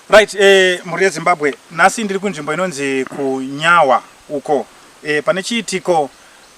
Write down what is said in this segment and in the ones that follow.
Right, eh, mhuri yeZimbabwe, nhasi ndiri kunzvimbo inonzi kuNyawa uko eh, pane chiitiko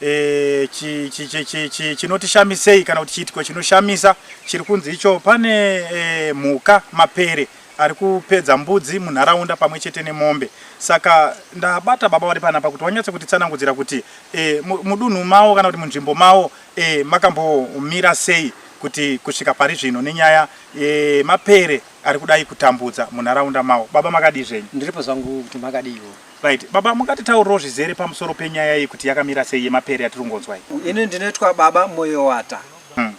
eh, chi, chi, chi, chi, chi, chinotishamisei kana kuti chiitiko chinoshamisa chiri kunzi icho pane eh, mhuka mapere ari kupedza mbudzi munharaunda pamwe chete nemombe saka ndabata baba vari panapa kuti wanyatse kutitsanangudzira kuti eh, mu- mudunhu mawo kana kuti munzvimbo mawo eh, makambomira sei kuti kusvika pari zvino nenyaya Eeh mapere ari kudai kutambudza munharaunda mawo. Baba makadii zvenyu? Ndiripo zvangu kuti makadiiwo. Right. Baba mungatitaurirewo zvizere pamusoro penyaya iyi kuti yakamira sei yemapere yatiri kungonzwa iyi? Ini ndinoitwa baba Moyowata.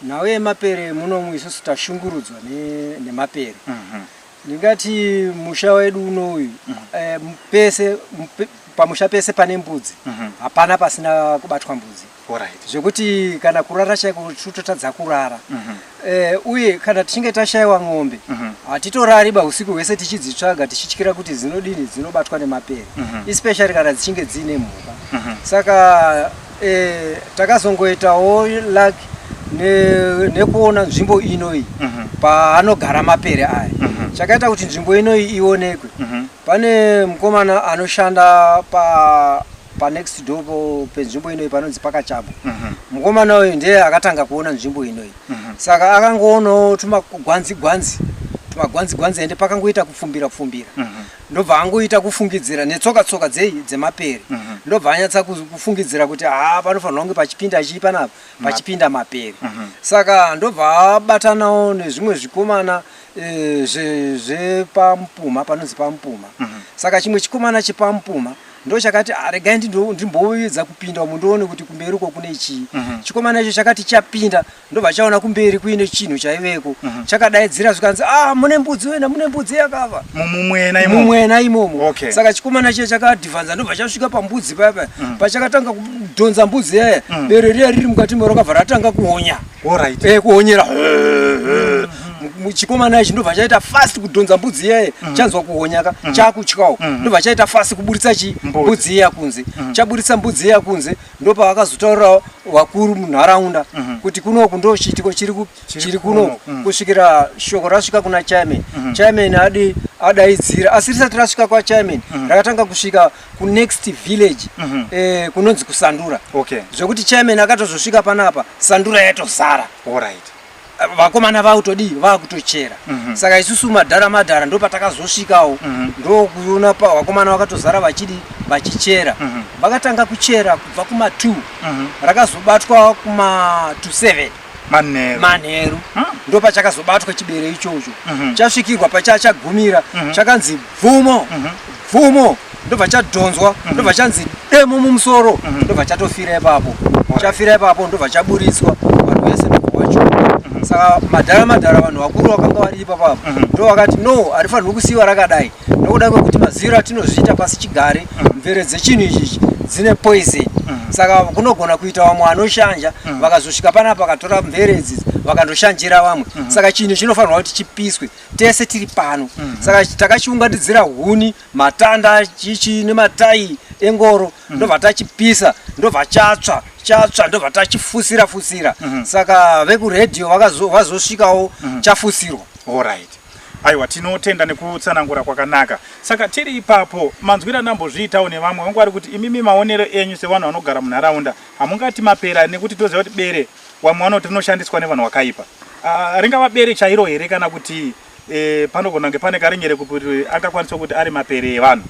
Nhau yemapere munomu isusu tashungurudzwa ne- nemapere. Ndingati musha wedu uno uyu eh, pese mpe- pamusha pese pane mbudzi hapana pasina kubatwa mbudzi. Alright. zvekuti kana kurara chaiko totadza kurara Mhm. Eh, uye kana tichinge tashaiwa mombe Mhm. hatitorari ba usiku hwese tichidzitsvaga tichityira kuti dzinodini dzinobatwa nemapere Mhm. especially kana dzichinge dziine mhuka Mhm. saka eh, takazongoitawo luck ne- nekuona nzvimbo inoyi Mhm. paanogara mapere aya Mhm. chakaita kuti nzvimbo inoyi ionekwe Mhm. pane mukomana anoshanda pa panext door po- penzvimbo inoyi panonzi pakachabwa Mhm. mukomana uyu ndiye akatanga kuona nzvimbo inoyi Mhm. saka akangoonawo tumagwanzi gwanzi tumagwanzi gwanzi ende pakangoita kupfumbira pfumbira Mhm. ndobva angoita kufungidzira netsoka tsoka dzei dzemapere Mhm. ndobva anyatsa kuzu- kufungidzira kuti haa panofanirwa kunge pachipinda chii panapa pachipinda mapere Mhm. saka ndobva abatanawo nezvimwe zvikomana eh, zve- zvepamupuma panonzi pamupuma Mhm. saka chimwe chikomana chepamupuma ndochakati ah, regai ndimboedza kupinda umu ndoone kuti kumberi uko kune chii mhm. chikomana icho chakati chapinda ndobva chaona kumberi kuine chinhu chaiveko mhm. chakadaidzira zvikanzi a ah, mune mbudzi wena mune mbudzi yakava mumwena imomo saka chikomana chiya chakadhivanza ndobva chasvika pambudzi paya paya mhm. pachakatanga kudhonza mbudzi yaya bere riya riri mukati moro kabva ratanga kuonya Alright. Eh kuhonyera. Chikomana ichi ndobva chaita fast kudhonza mbudzi iyaye mm. chanzwa kuhonyaka mm. chakutyawo mm. ndobva chaita fast kuburitsa chi mbudzi iya kunze chaburitsa mbudzi iya kunze ndopavakazotaurirawo vakuru munharaunda mhm. kuti kunoku ndo chiitiko chiri kuno mm. kusvikira shoko rasvika kuna chairman mhm. chairman adi adaidzira asi risati rasvika kwachairman mhm. rakatanga kusvika kunext village mm -hmm. eh, kunonzi kusandura okay. zvekuti chairman akatozosvika panapa sandura yatozara right. Eh, vakomana vakutodii vakutochera mm -hmm. saka isusu madhara madhara ndo patakazosvikawo mm -hmm. ndokuona vakomana vakatozara vachidi vachichera mm -hmm. vakatanga kuchera kubva kuma 2 mm -hmm. rakazobatwa kuma 27 manheru manheru hmm. ndo pachakazobatwa chibere ichocho mhm. chasvikirwa pachaa chagumira mhm. chakanzi bvumo mhm. bvumo ndobva chadhonzwa ndobva chanzi demo mumusoro ndobva chatofira ipapo chafira ipapo ndobva chaburitswa vanhu vese ndobvawacho saka madhara madhara vanhu vakuru vakanga vari ipapapo ndo vakati no harifanirwi kusiiwa rakadai nokuda kwekuti maziviro atinozviita pasi chigare mm. mvere dzechinhu ichichi dzine poison mm. saka kunogona kuita vamwe vanoshanja mm. vakazosvika panapa vakatora mvere idzidzi vakandoshanjira vamwe mm. saka chinhu chinofanirwa kuti chipiswe tese tiri pano mm. saka takachiunganidzira huni matanda chichi nematayi engoro mm. ndobva tachipisa ndobva chatsva chatsva ndobva tachifusira fusira mm. saka vekuredio vazosvikawo mm. chafusirwa allright Aiwa tinotenda nekutsanangura kwakanaka. Saka tiri ipapo manzwira ndambozviitawo nevamwe vangu vari kuti imimi maonero enyu sevanhu vanogara munharaunda hamungati mapera nekuti toziva kuti bere wamwe vanoti rinoshandiswa nevanhu wakaipa. Uh, ah, ringava bere chairo here kana kuti eh, panogona kunge pane karinyere kuti angakwanisa kuti ari mapere evanhu.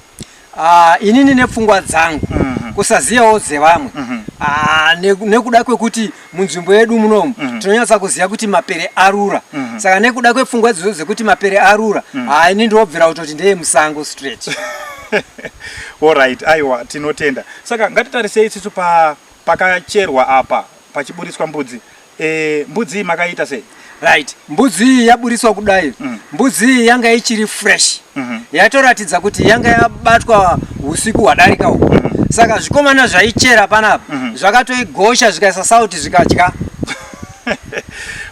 Ah, inini nepfungwa dzangu mhm. kusaziyawo dzevamwe mhm. ah, nekuda kwekuti munzvimbo yedu munomu mhm. tinonyatsa kuziva kuti mapere arura saka nekuda kwepfungwa idzodzo dzekuti mapere arura haa ah, ini ndinobvira kutoti ndeye musango straight orit aiwa tinotenda saka ngatitarisei isusu pakacherwa apa pachiburitswa mbudzi Eh, mbudzi iyi makaiita sei? Right. Mbudzi iyi yaburitswa kudai. Mm. Mbudzi iyi yanga ichiri fresh. Mm -hmm. Yatoratidza kuti yanga yabatwa usiku hwadarika uku. Mm -hmm. Saka zvikomana zvaichera panapa mm -hmm. zvakatoigosha zvikaisa sauti zvikadya.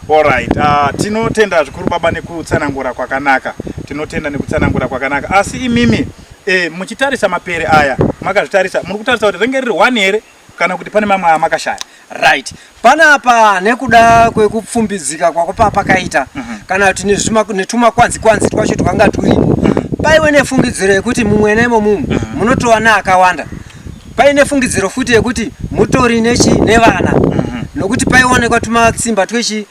Alright. Uh, ah, tinotenda zvikuru baba nekutsanangura kwakanaka. Tinotenda nekutsanangura kwakanaka. Asi imimi eh, muchitarisa mapere aya makazvitarisa muri kutarisa kuti renge riri one here kana kuti pane mamwe amakashaya right panapa nekuda kwekupfumbidzika kwako paa pakaita mm -hmm. kana kuti netumakwanzi kwanzi twacho twanga turipo mm -hmm. paiwe nefungidziro yekuti mumwe nemo mumu mm -hmm. munotova neakawanda paine fungidziro futi yekuti mutori nechi nevana mm -hmm. nokuti paionekwa tumatsimba twechi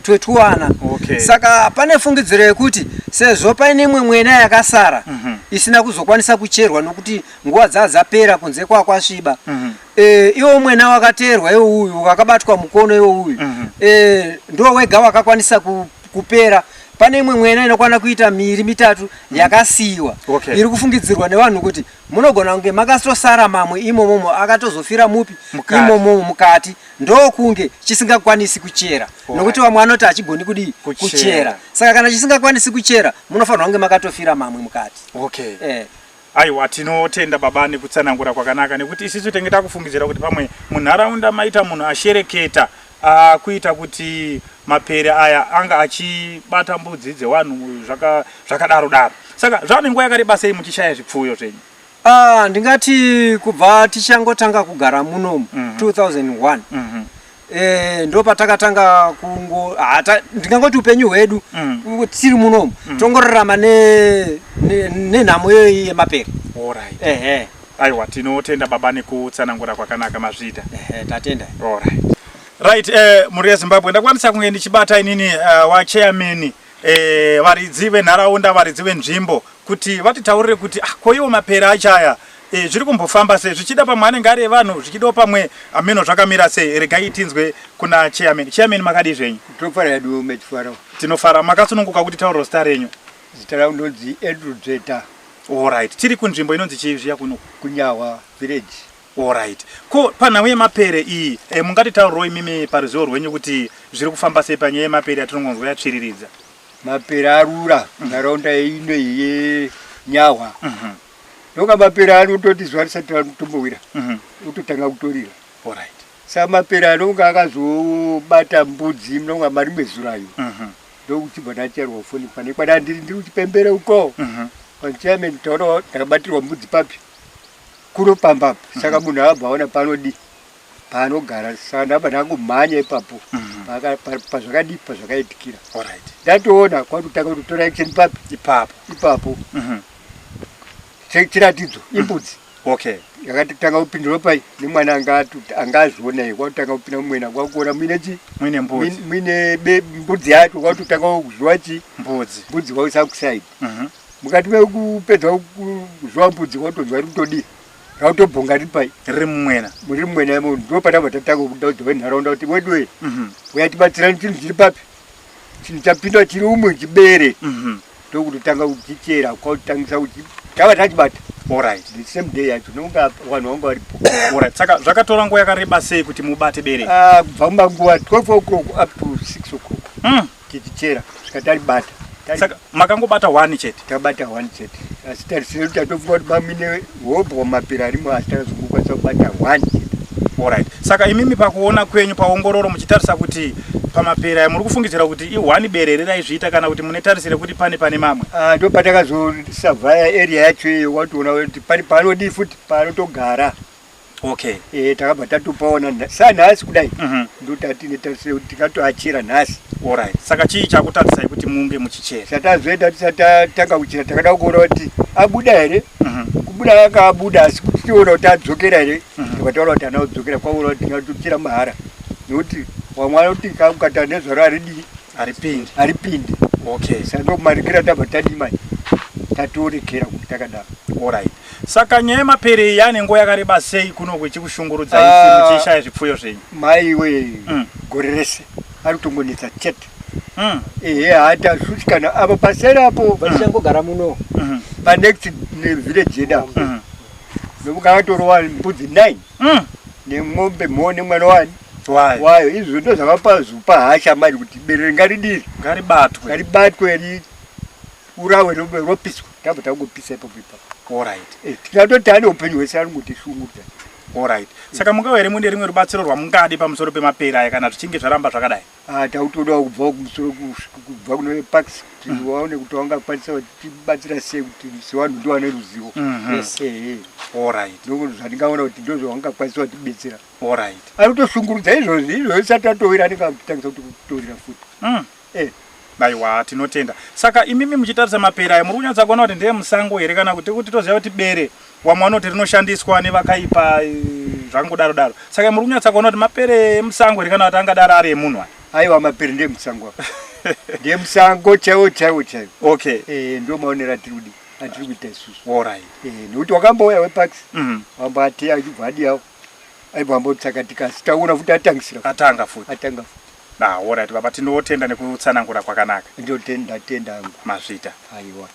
twetwana okay. Saka pane fungidziro yekuti sezvo paine imwe mwena yakasara mm -hmm. isina kuzokwanisa kucherwa nokuti nguva dzaa dzapera kunze kwaa kwasviba mm -hmm. e, iwo mwena wakateerwa iwo uyu wakabatwa mukono iwo uyu mm -hmm. e, ndo wega wakakwanisa ku, kupera pane imwe mwena inokwana kuita miiri mitatu mhm. yakasiyiwa okay. iri kufungidzirwa nevanhu kuti munogona kunge makatosara mamwe imomomo akatozofira mupi imomomo mukati ndokunge chisingakwanisi kuchera nokuti vamwe vanoti hachigoni kudii kuchera saka kana chisingakwanisi kuchera munofanirwa kunge makatofira mamwe mukati okay. eh. aiwa tinotenda baba nekutsanangura kwakanaka nekuti isisu tenge takufungidzira kuti pamwe munharaunda maita munhu ashereketa akuita kuti mapere aya anga achibata mbudzi dzewanhu zvakadaro daro saka zvaane nguva yakareba sei muchishaya zvipfuyo zvenyu Ah, ndingati kubva tichangotanga kugara muno mm -hmm. 2001 mm -hmm. Eh, ndo patakatanga kungo ndingangoti upenyu hwedu mm. tiri munomu mm. tongorarama nenhamo ne, ne iyoyi yemapere right. ehe aiwa tinotenda baba nekutsanangura kwakanaka mazviita ehe tatenda right, right eh, mhuri yezimbabwe ndakwanisa kunge ndichibata inini uh, eh, wachairman eh, varidzi venharaunda varidzi venzvimbo kuti vatitaurire kuti ah, koiwo mapere achaya eh, zviri kumbofamba sei zvichida pamwe anenge ari evanhu zvichidawo pamwe ameno zvakamira sei regai tinzwe kuna chairman chairman makadii zvenyu Tofara yedu mechifara. tinofara makasununguka kuti tauriro zita renyu Zita rangu ndonzi Andrew Dzveta alright tiri kunzvimbo inonzi chii zviya kuno kunyawa village. Alright. Ko panhau yemapere iyi e, mungatitaurirawo imimi paruzivo rwenyu kuti zviri kufamba sei panyaya yemapere yatinongonzwa yatsviriridza? Mapere arura munharaunda mm. ino yenyahwa mm -hmm. ndoka mapere anototi zuva risati ratombowira mm -hmm. utotanga kutorira right. sa mapere anonga akazobata mbudzi mnonga mari mezurayo mm -hmm. ndokuchibva ndacherwa foni pane kwana ndiri ndiri kuchipembere uko mm -hmm. panchairman taona ndakabatirwa mbudzi papi kuro pamba apa mm. saka munhu abva aona panodi paanogara saka ndabva ndakumhanya ipapo mm. pazvakadii pazvakaitikira ndatoona kwakutanga kuti tora action papi ipapo ipapo mm-hmm. chiratidzo mm. imbudzi okay yakatotanga kupindura pai nemwana anga azvionai kwakutanga kupinda mumwena kwakuona muine chi muine mbudzi muine mbudzi yacho kwakutotanga kuziva chi mbudzi mbudzi kwakusakusaidi mm-hmm. mukati mekupedza kuzva mbudzi kwatonzwa iri kutodii rautobhonga riri pai riri mumwena muri mumwena imo ndo patanga tatanga kudaudza venharaunda kuti weduwe mhm. uya tibatsirani chinhu chiri papi chinhu chapinda chiri umwe chibere mhm. ndokuti tanga kuchichera kwautangisa kuchi tava tachibata orit the same day yacho nokunga vanhu vanga varipo orit saka zvakatora nguva yakareba sei kuti mubate bere ah, kubva mumanguva 12 o'clock up to 6 o'clock mm. tichichera saka taribata saka makangobata one chete tabata one chete asi tarisire kuti tatofunga kuti mamine hobho mapira arimo asi tarazokukwanisa kubata one chete orit saka imimi pakuona kwenyu paongororo muchitarisa kuti pamapera muri kufungidzira kuti ihwani bere here raizviita kana kuti mune tarisire kuti pane pane mamwe ah, ndo patakazosavhaya area yacho iyo watoona kuti pane paanodii futi paanotogara okay eh takabva tatupaona nda- sanhasi kudai Mhm. ndotati netarisira kuti tikatoachira nhasi alright saka chii chakutadzisai kuti munge muchichera chatazoenda tisati tatanga kuchira takada kuona kuti abuda here Mhm. kubuda akabuda asi kuti tiona kuti adzokera here Mhm. tikataura kuti ana kudzokera kwaona kuti tingatochira mahara nekuti wamwana kuti kakukata nezvaro aridii haripindi haripindi okay saka ndokumarekera tabva tadii manje tatorekera kuti takadaro orit saka nyaya yemapere iyi ane nguva yakareba sei kuno kuchikushungurudza isi ah. muchishaya zvipfuyo zvenyu maiwe mm. gore rese ari kutongonetsa chete mm. ehe hata suti kana avo paseri apo vachangogara mm. muno mm-hmm. panext village yeda mm-hmm. nokuti akatorova mbudzi nine mm. nemombe moo nemwana wani wayo izvo ndo zvavapazopa hasha mari kuti berere ngaridii ngaribatwe ngaribatwe ri urawe ropiswa tabva tangopisa ipapo ipapo orit eh, tingatoti ane upenyu hwese ari kuti shungurudza orit saka mungava here mune rimwe rubatsiro rwamungadi pamusoro pemapera aya kana zvichinge zvaramba zvakadai Ah, tautodawo kubvawo kumusoro kubva kune parks kuti mm. waone kuti wangakwanisa vatibatsira sei kuti sevanhu ndo vane ruzivo mhm. ese orit ndo zvatingaona kuti ndo zvavangakwanisa vatibetsera orit ari kutoshungurudza izvozvi izvozvi sati atowira anenge akutangisa kuti kutorira futi mm. eh. aiwa tinotenda saka imimi muchitarisa mapera ayo muri kunyatsa kuona kuti ndeye musango here kana kuti kuti toziva kuti bere wamwe vanoti rinoshandiswa nevakaipa eh, zvangodaro daro saka muri kunyatsa kuona kuti mapere emusango here kana kuti angadaro ari emunhu aya aiwa mapere ndeemusango apa ndeemusango chaiwo chaiwo chaiwo okay Eh, ndo maonero atiri kudi atiri kuita isusu orit Eh, nekuti wakambouya wepax Mhm. wamboateya achibva adiyawo aibva ambotsakatika asi taona futi atangisira futi. atanga futi atanga futi ah, orit baba tinotenda nekutsanangura kwakanaka ndotenda tenda hangu mazvita aiwa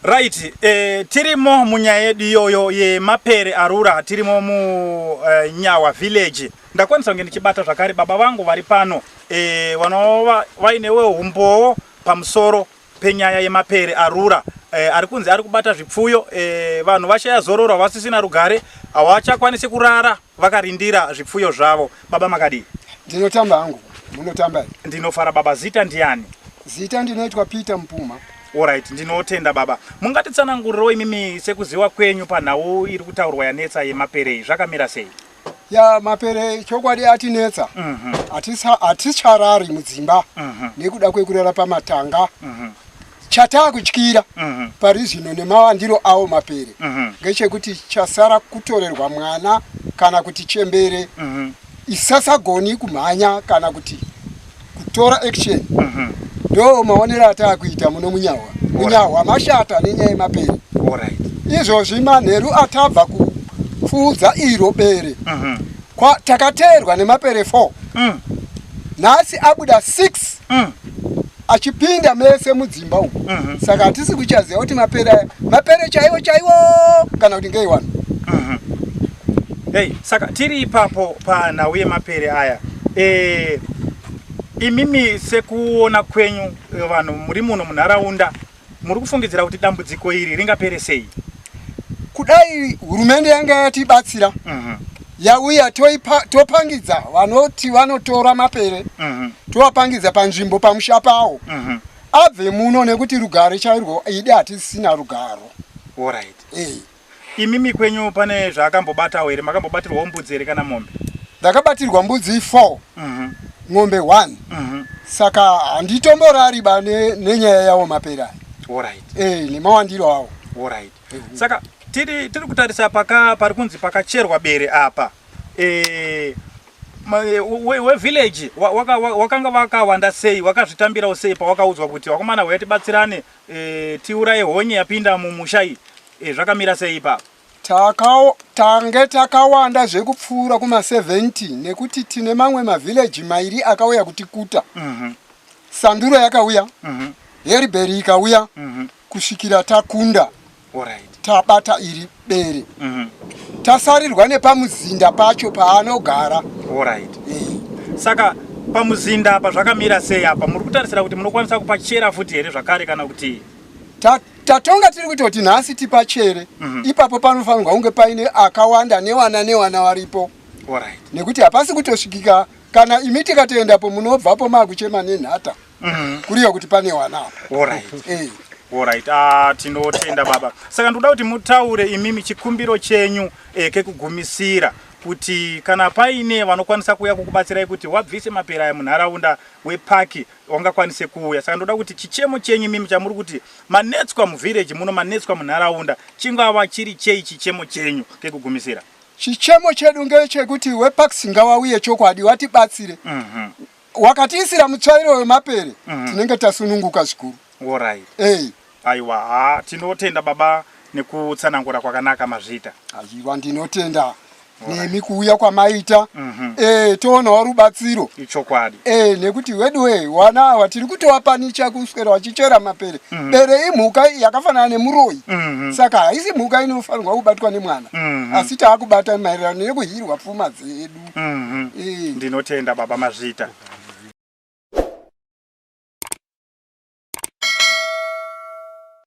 Right, eh, tirimo munyaya yedu iyoyo yemapere arura tirimo munyawa eh, village ndakwanisa kunge ndichibata zvakare baba vangu vari pano eh, vanova vainewe humbowo pamusoro penyaya yemapere arura eh, ari kunzi ari kubata zvipfuyo eh, vanhu vashaya zororo havasisina rugare havachakwanisi kurara vakarindira zvipfuyo zvavo baba makadii ndinotamba hangu munotamba ndinofara baba zita ndiani zita ndinoitwa peter mupuma orit ndinotenda baba mungatitsanangurirewo imimi sekuziwa kwenyu panhau iri kutaurwa yanetsa yemaperei zvakamira sei ya mapere chokwadi atinetsa mhm. haticharari mudzimba mhm. nekuda kwekurara pamatanga mhm. chatakutyira mm -hmm. pari zvino nemawandiro awo mapere mm -hmm. ngechekuti chasara kutorerwa mwana kana kuti chembere mm -hmm. isasagoni kumhanya kana kuti kutora action mm -hmm. ndo maonero atakuita muno munyahwa munyahwa mashata nenyaya yemapere right. izvozvi manheru atabva kupfuudza iro bere mm -hmm. Kwa, takateerwa nemapere 4 mm. nhasi abuda 6 mm. achipinda mese mudzimba uku mm -hmm. saka hatisi kuchaziva kuti mapere aya mapere chaiwo chaiwo kana kuti ngei wani mm -hmm. hey, saka tiri ipapo panhau yemapere aya e, imimi sekuona kwenyu vanhu muri muno munharaunda Muri kufungidzira kuti dambudziko iri ringapere sei? Kudai hurumende yanga yatibatsira mhm. yauya topangidza vanoti vanotora mapere mhm. tovapangidza panzvimbo pamusha pawo mhm. abve muno nekuti rugare chairwo idi hatisina rugaro. All right. Eh. Imimi kwenyu pane zvaakambobatawo here? Makambobatirwawo mbudzi here kana mombe? Ndakabatirwa mbudzi four Mhm, ng'ombe one mhm. saka handitomborari ba ne- nenyaya yawo mapera aya. Alright, Eh, nemawandiro awo alright. Saka tiri tiri kutarisa paka pari kunzi pakacherwa bere apa. Eh ma- eh, we, we village wa- waka- wa- wakanga wakawanda sei wakazvitambirawo sei pawakaudzwa kuti wakomana huya tibatsirane Eh, tiuraye honye yapinda mumusha iyi eh, zvakamira sei ipapo Takawo- tange takawanda zvekupfuura kuma70 nekuti tine mamwe mavhileji mairi akauya kutikuta Mhm, sanduro yakauya mhm, heribheri ikauya mhm. kusvikira takunda tabata iri bere mhm. tasarirwa nepamuzinda pacho paanogara saka pamuzinda apa zvakamira sei apa muri kutarisira kuti munokwanisa kupachera futi here zvakare kana kuti tatonga tiri kutoti nhasi tipachere mhm. ipapo panofanirwa kunge paine akawanda newana newana varipo nekuti hapasi kutosvikika kana imi tikatoendapo munobvapo maakuchema nenhata Mm-hmm. Kuriyo kuti pane wana apa. All right. Eh. All right. Ah, tinotenda baba. Saka ndoda kuti mutaure imimi chikumbiro chenyu eh, kekugumisira kuti kana paine vanokwanisa kuuya kukubatsirai kuti wabvise mapera aya munharaunda wepaki wangakwanise kuuya saka ndoda kuti chichemo chenyu mimi chamuri kuti manetswa muvhireji muno manetswa munharaunda chingava chiri chei chichemo chenyu kekugumisira chichemo chedu ngechekuti wepaxi ngawauye chokwadi watibatsire mm -hmm. wakatiisira mutsvairo wemapere mhm. tinenge tasununguka zvikuru orit ey aiwa ha tinotenda baba nekutsanangura kwakanaka mazvita aiwa ndinotenda nemi kuuya kwamaita mhm. eh, toonawo rubatsiro ichokwadi eh, nekuti weduwe wana awa tiri kutowapanicha kuswera wachichera mapere mhm. bere imhuka yakafanana nemuroyi mhm. saka haisi mhuka inofanirwa kubatwa nemwana asi taakubata maererano nekuhirwa pfuma dzedu mm -hmm. ndinotenda baba mazvita